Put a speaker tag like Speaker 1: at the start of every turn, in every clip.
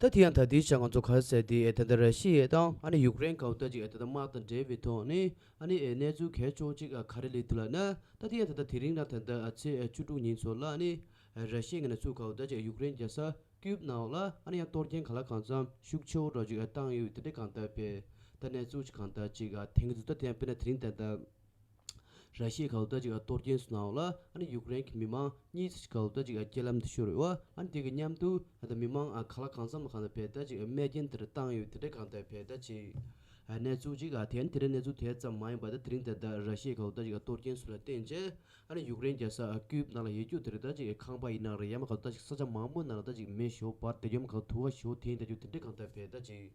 Speaker 1: ད་དེ་ཡང་ད་ལྟའི་ཆར་ང་ཚོ་གར་སའི་དེ་ད་ལྟ་ར་ཤི་ཡའི་དང་ཨ་ནི་ཡུག་རེན་གའུ་ཏ་ཅིག་ད་ལྟ་དམག་དང་འབྲེལ་བའི་ཐོག་ནས་ཨ་ནི་གནས་ཚུལ་གལ་ཆུང་ཅིག་ག་རེ་ལེགས་འདུག་ལགས་ན་ད་དེ་ཡང་ད་ལྟ་དེ་རིང་ལ་ད་ལྟ་ཚེས་བཅུ་དྲུག་ཉིན་ཚོ་ལ་ནི་ར་ཤི་ཡའི་ངན་ཚུལ་གའུ་ཏ་ཅིག་ཡུག་རེན་རྒྱལ་ས་ཀིའུབ་ནང་ལ་ཨ་ནི་ཡང་གཏོར་རྐྱེན་ག་ལ་གང་འཚམ་ཤུགས་ཆེའོ་རོགས་ཅིག་བཏང་ཡོད་དེ་འདྲའི་གང་ལྟར་བས་ད་གནས་ཚུལ་གང་ལྟར་ཅིག་དེང་གི་དུས་ད་དེ་ཡང་དཔེར་ན་དེ་རིང་ད་ལྟ། ར་ཤི་ཡའི་ག་ལོ་ད་ཅིག་གཏོར་རྒྱན་སུ་གནང་བ་ལ་ཡུཀ་རེན་གྱི་མི་མང་གཉིས་ཀྱིས་ག་ལོ་ད་ཅིག་རྐྱེན་ལམ་དུ་ཤོར་བའི་དབར་དེ་གི་མཉམ་དུ་མི་མང་ག་ལ་གང་འཚམ་ལ་གང་འཚམ་བལ་ད་ཅིག་རྨས་རྐྱེན་དེར་བཏང་ཡོད་དེ་འདྲའི་གང་ལྟར་བལ་ད་ཅིག་གནས་ཚུལ་ཅིག་དེ་ཡང་དེ་འདྲའི་གནས་ཚུལ་དེ་ཙམ་མ་ཡིན་པ་དེ་རིང་དེ་ལྟར་ར་ཤི་ཡའི་ག་ལོ་ད་ཅིག་གཏོར་རྒྱན་སུ་ལ་བརྟེན་རྗེས་ཡུཀ་རེན་རྒྱལ་ས་ཀིབ་ནང་ལ་ཡེ་རྒྱུ་དེ་རི་ད་ཅིག་གི་ཁང་པ་ཡིན་ནང་རེད་ཡང་མ་ག་ལོ་ད་ཅིག་ས་ཆ་མང་པོའི་ནང་ར་ད་ཅིག་མེ་ཞོ་བར་དེ་ཡོམ་ག་ལོ་དུ་བ་ཞོ་དེ་ཡིན་ད་རྒྱུ་དེ་འདྲའི་གང་ལྟར་བལ་ད་ཅིག།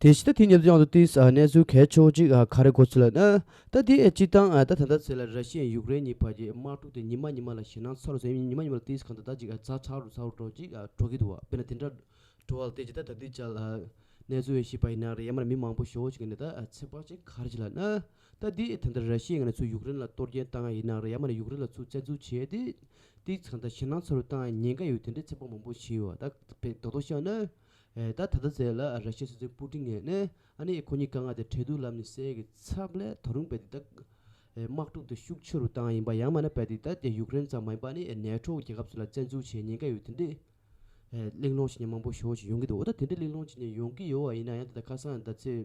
Speaker 1: དེ་བཞིན་ད་ཐེངས་ཉེ་རྡུང་ཡང་དུ་ཏིས་གནས་ཚུལ་གལ་ཆེ་བོ་གཅིག་ག་རེ་གོ་ཚུལ་ལ་ན་ད་དེ་སྤྱི་བཏང་ད་ད་ལྟ་ཚེ་ལ་ར་ཤི་ཡན་ཡུཀ་རེན་གཉིས་བར་གྱི་དམག་འཁྲུག་དེ་ཉི་མ་ཉི་མ་ལ་ཞེ་སྣང་ཚ་རུ་ཚ་ཉི་མ་ཉི་མ་ལ་ཏིས་གང་ད་ད་ཅིག་ཚ་ཚ་རུ་ཚ་རུ་འགྲོ་ཅིག་འགྲོ་གི་འདུག་བ་དཔེར་ན་དེ་འདྲ་འགྲོ་བ་ལ་ཏིས་ད་ད་ད་ཏིས་ཅག་ལ་གནས་ཚུལ་ཤེས་པ་ཡིན་ན་རེ་ཡ་མ་རེ་མི་མང་པོ་ཞོ་ཞིག་གི་ནས་ད་ཚེ་དཔག་ཅིག་ག་རེ་བྱེད་ལ་ན་ད་དེ་ད་ལྟ་ར་ཤི་ཡའི་ང་ནས་ཚུར་ཡུག་རེན་ལ་གཏོར་སྐྱེན་བཏང་ཡ་ཡིན་ནའང་རེད་ཡ་མ་ནས་ཡུག་རེན་ལ་ཚུར་བཙན་འཛུལ་བྱས་ཡ་དེ་དེ་ཚང་ད་ཞེ་ནང་ཚ་རུ་བཏང་ཡ་ཉེན་ཀ་ཡོད་དེ་འདྲའི་ཚེ་དཔག་མང་པོ་བྱས་ཡོད་ད་བེ་རྡོག་རྡོག་ཤག་ནི། ད་ད་ད་ཟེར་ལ་ར་ཤི་ཡའི་སྲིད་འཛིན་པུ་ཀྲིན་ངས་ནི་ཨ་ནི་ཁོ་གཉིས་ཀ་ང་དེ་འཕྲལ་དུ་ལམ་ནས་སེལ་གི་ཚབ་ལས་ད་རུང་བེ་དེ་ད་དམག་འཁྲུག་དེ་ཤུགས་ཆེ་རུ་བཏང་ཡ་ཡིན་པ་ཡ་མ་ནི་བེ་དེ་ད་དེ་ཡུག་རེན་ཙམ་མ་ཡིན་པ་ཨ་ནི་ནེ་ཐྲོ་རྒྱལ་ཁབ་སུ་ལ་བཙན་འཛུལ་བྱས་ཉེན་ཀ་ཡོད་དེ་འདྲའི་གླེང་སློང་བྱེད་མཁན་མང་པོ་ཞོག་ཅིག་ཡོང་གི་འདུག་འོ་ད་དེ་འདྲའི་གླེང་སློང་བྱེད་མཁན་ཡོང་གི་ཡོད་ཡ་ཡིན་ནའང་ད་ད་ཁ་སང་ད་ཚེ།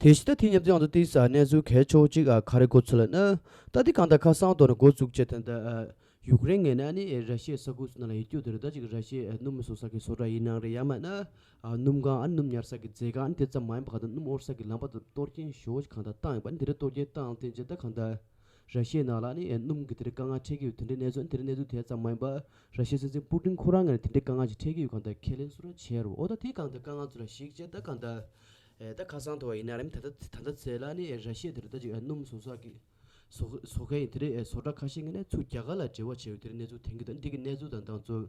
Speaker 1: དེ་བཞིན་ཏཱ་ཐི་མཉམ་འཛེགས་ཨང་དང་ཏིའི་སར་གནས་ཚུལ་གལ་ཆོག་ཅིག་ཁ་རེ་གོ་ཚོད་ལ་ནི། ཏཱ་ཐི་གང་དང་ཁ་སང་དོར་ནས་འགོ་བཙུགས་བྱས་དོན་ཏེ། ཡུཀ་རེན་ངེས་ན་ནི་ར་ཤི་ཡའི་ས་ཁུལ་སུ་ན་ལ་ཡི་རྒྱུ་དེ་རེད་ད་ཅིག་ར་ཤི་ཡའི་སྣུམ་མི་བཟོ་ས་ཀྱི་བཟོ་གྲྭ་ཡི་ནང་རེད་ཡང་མེད་ན། སྣུམ་ཁང་ཨ་ནི་སྣུམ་ཉར་ས་ཀྱི་མཛེས་ཁང་ཨ་ནི་དེ་ཙམ་མ་ཡིན་པ་གང་ལྟར་སྣུམ་དབོར་ས་ཀྱི་ལམ་བར་དུ་གཏོར་སྐྱོན་ཞོགས་ཀྱི་གང་དང་བཏང་ཡོད་པ་ཨ་ནི་དེ་རེད་གཏོར་སྐྱོན་བཏང་ཐེངས་རྗེས་ད་གང་ལྟར། ར་ཤེས་ནག་ལ་ནི་སྣུམ་གྱི་དེ་རིང་དཀའ་ངལ་འཕྲད་ཀྱི་ཡོད་དེ་འདྲའི་གནས་ཚུལ་འདིར་གནས་ཚུལ་དེ་ཙམ་མ་ཡིན་པར་ར་ཤེས་སྲིད་འཛིན་པུ་ཀྲིན་ཁོ་རང་ངེད་ལ་དེ་འདྲའི་དཀའ་ངལ་ཞིག་འཕྲད་ཀྱི་ཡོད་གང་ལྟར་ཁས་ལེན་སུ་རང་བྱེད་རོགས་ད་དེ་གང་ལྟར་དཀའ་ངལ་ཚོ་ལ་ཞིག་བྱེད་ད་གང་ལྟར་ད་ཁ་སང་དུ་བ་ཡིན་ན་རམ་ད་ལྟ་ད་ལྟ་ཚེ་ལ་ནི་ར་ཤེས་དེ་རུ་ད་ཅིག་སྣུམ་བཟོ་ས་ཀྱི་བཟོ་མཁན་ཡིན་དེ་རེད་བཟོ་གྲྭ་ཁ་ཤས་ངེད་ནས་ཚུར་རྒྱ་གར་ལ་འབྲེལ་བ་བྱས་ཡོད་དེ་རིང་གནས་ཚུལ་དེང་གི་དང་འདི་གི་གནས་ཚུལ་དང་ཏང་ཙུའུ་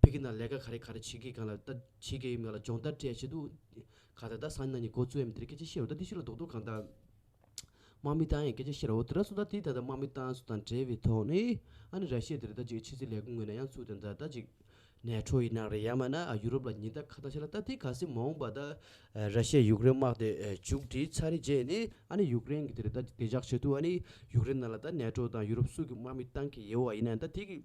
Speaker 1: ཕི་གི་ན་ལས་ཀ་ག་རེ་ག་རེ་བྱེད་གི་གང་ལ་ད་བྱེད་གི་ང་ལ་སྦྱོང་བརྡར་སྤྲད་བྱེད་དུ་ག་ད་ད་སང་ཉིན་ན་ཉིན་གོ་ཚུ་ཨེ་མི་དེ་རེ་སྐད་ཆ་བཤད་རོགས་ད་དེ་ཕྱི་ལ་རྡོག་རྡོག་གང་ད་དམག་མི་ཏང་ཡེ་སྐད་ཆ་བཤད་རོགས་ད་ར་སུ་ད་དེ་ད་ད་དམག་མི་ཏང་སུ་དང་བྲལ་བའི་ཐོག་ནས་ཨ་ནི་ར་ཤི་ཡ་དེ་རེ་ད་ཅིག་ཕྱི་སྲིད་ལས་ཁུངས་ངོས་ན་ཡང་ཚུགས་དང་ད་ད་ཅིག་ནས་ཁྲོ་ཡི་ནག་རེད་ཡ་མ་ན་ཨ་ཡུ་རོབ་ལ་ཉིན་ད་ཁ་ད་ཤ་ལ་ད་དེ་ག་སེ་མ་འོང་པ་ད་ར་ཤི་ཡ་ཡུག་རེན་དམག་དེ་བྱུག་དྲིས་ཚར་རེ་རྗེས་ནས་ཨ་ནི་ཡུག་རེན་གི་དེ་རེ་ད་དེ་འཇགས་བྱེད་དུ་ཨ་ནི་ཡུག་རེན་ནང་ལ་ད་ནས་ཁྲོ་དང་ཡུ་རོབ་སུ་གི་དམག་མི་ཏང་གི་ཡེ་བ་ཡིན་ན་ད་དེ་གི།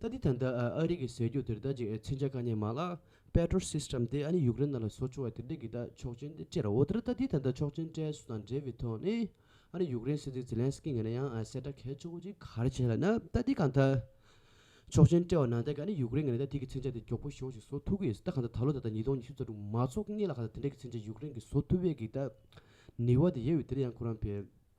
Speaker 1: ད་དེ་ཐད་འདི་ཨ་རི་གི་ཟེར་རྒྱུ་དེར་ད་ཅིག་མཚོན་ཆ་ག་ནས་མ་ལགས Patriot System དེ་ཨ་ནི་ཡུཀ་རེན་ནང་ལ་བཟོ་ཆོག་བ་དེ་འདྲ་གི་ད་ཆོག་མཆན་དེ་སྤྲད་ར་འོ་དེར་ད་དེ་ཐད་འདི་ཆོག་མཆན་སྤྲད་སུ་དང་འབྲེལ་བའི་ཐོག་ནས་ཨ་རི་ཡུཀ་རེན་སྲིད་འཛིན Zelensky ངེད་ན་ཡང་གསལ་བཀྲ་གལ་ཆོག་པོ་ཅིག་གར་བྱས་ལ་ན་ད་དེ་གང་ཐད་ཆོག་མཆན་སྤྲད་བ་ན་ད་གི་ཨ་ནི་ཡུཀ་རེན་ངེད་ན་ད་དེ་གི་མཚོན་ཆ་དེ་མགྱོགས་པོ་ཞོག་ཅིག་བཟོ་ཐུབ་གི་ད་གང་ཐད་ད་ལོ་ད་ལྟ་ཉིས་སྟོང་ཉི་ཤུ་རྩ་དྲུག་མ་ཚོགས་ངེད་ལ་གང་ཐད་དེ་འདྲ་གི་མཚོན་ཆ་ཡུཀ་རེན་གི་བཟོ་ཐུབ་བས་གི་ད་ནུས་བ་དེ་ཡོད་བས་དེ་ལ་ཡང་ཁོ་རང་ཕེབས།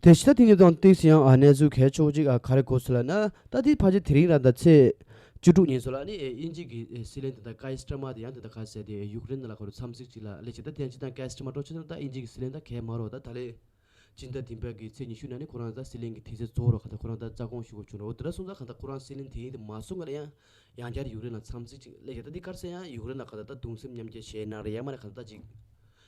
Speaker 1: དེ་ཕྱི་ད་ཐེངས་ཀྱི་ཏང་ཏེག་ཡང་གནས་ཚུལ་གལ་ཆེ་བོ་གཅིག་ག་རེ་གོ་སྲིད་ལ་ན་ད་དེའི་ཕར་ཆེར་དེ་རིང་ར་ད་ཚེས་བཅུ་དྲུག་ཉིན་སོ་ལ་ནི་དབྱིན་ཇིག་གི་སྲིད་བློན་དེ་དང་ཀཱི་སི་ཀྲ་མ་དེ་ཡང་དེ་དང་ཁ་ཟས་ཏེ་ཡུཀ་རེན་ན་ལ་ཁོ་རུ་འཚམས་གཟིགས་གཅིག་ལ་སླེ་ཅིག་ད་ཐེངས་ཅི་དང་ཀཱི་སི་ཀྲ་མ་ཀྲོ་ཆེ་ན་ད་དབྱིན་ཇིག་གི་སྲིད་བློན་ད་གས་མ་རོག་ད་ད་ལེ་ཅིན་ད་དིན་པ་གི་ཚེས་ཉི་ཤུ་ན་ནི་ཁོ་རང་ད་སྲིད་བློན་གི་དེ་ཚེ་གཙོ་བོ་རོག་ག་ད་ཁོ་རང་ད་རྩ་དགོངས་ཞུ་གོ་ཆུག་རོག་དེ་ར་སོང་ད་ག་ད་ཁོ་རང་སྲིད་བློན་དེ་ཡིན་དེ་མ་སོང་ག་ད་ཡང་ཡང་བསྐྱར་ཡུཀ་རེན་ལ་འཚམས་གཟིགས་གཅིག་སླེ་ཅིག་ད་དེ་སྐར་ཚེས་ཡང་ཡུཀ་རེན་ལ་ག་ད་ད་གདུང་སེམས་མཉམ་སྐྱེ་བྱེད་ན་རེ་ཡ་མ་རེ་ག་ད་ད་ཅིག་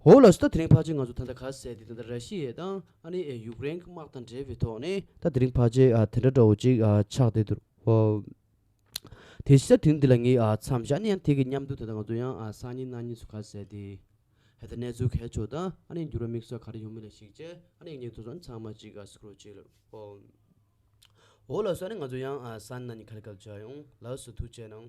Speaker 1: འོག་ལ་ཟླ་དེ་རིང་ཕག་ཆེན་ང་ཚོ་ད་ལྟ་ག་ཟེ་དེ་ད་ལྟ་ར་ཤི་ཡའི་དང་ཨ་ནི་ཨེ་ཡུག་རེན་གི་དམག་དང་འབྲེལ་བའི་ཐོག་ནས་ད་དེ་རིང་ཕག་ཆེན་དེ་འདྲ་འདྲ་བོ་ཅིག་ཆགས་བསྡད་འདུག་ཨོ། དེ་ཤི་ཟ་དུས་འདི་ལ་ངའི་མཚམས་བཞག་ནས་ཡང་ཐེག་གི་མཉམ་དུ་ད་ལྟ་ང་ཚོ་ཡང་སང་ཉིན་གནངས་ཉིན་སུ་ག་ཟེ་དེ་ཧད་ད་གནས་ཚུལ་གལ་ཆོག་དང་ཨ་ནི་འགྱུར་བ་དམིགས་བསལ་ག་རེ་ཡོང་མིན་ལ་གཞིགས་རྗེས་ཨ་ནི་ངེད་ཚོ་ཚང་ཚང་མ་ཅིག་སུ་ཁུར་བྱེད་ལབ་ཨོ། འོག་ལ་སུ་ཨ་ནི་ང་ཚོ་ཡང་སང་གནངས་ཉིན་ག་ལ་སྐབས་བྱ་ཡོང་ལགས་སུ་ཐུགས་རྗེ་གནང།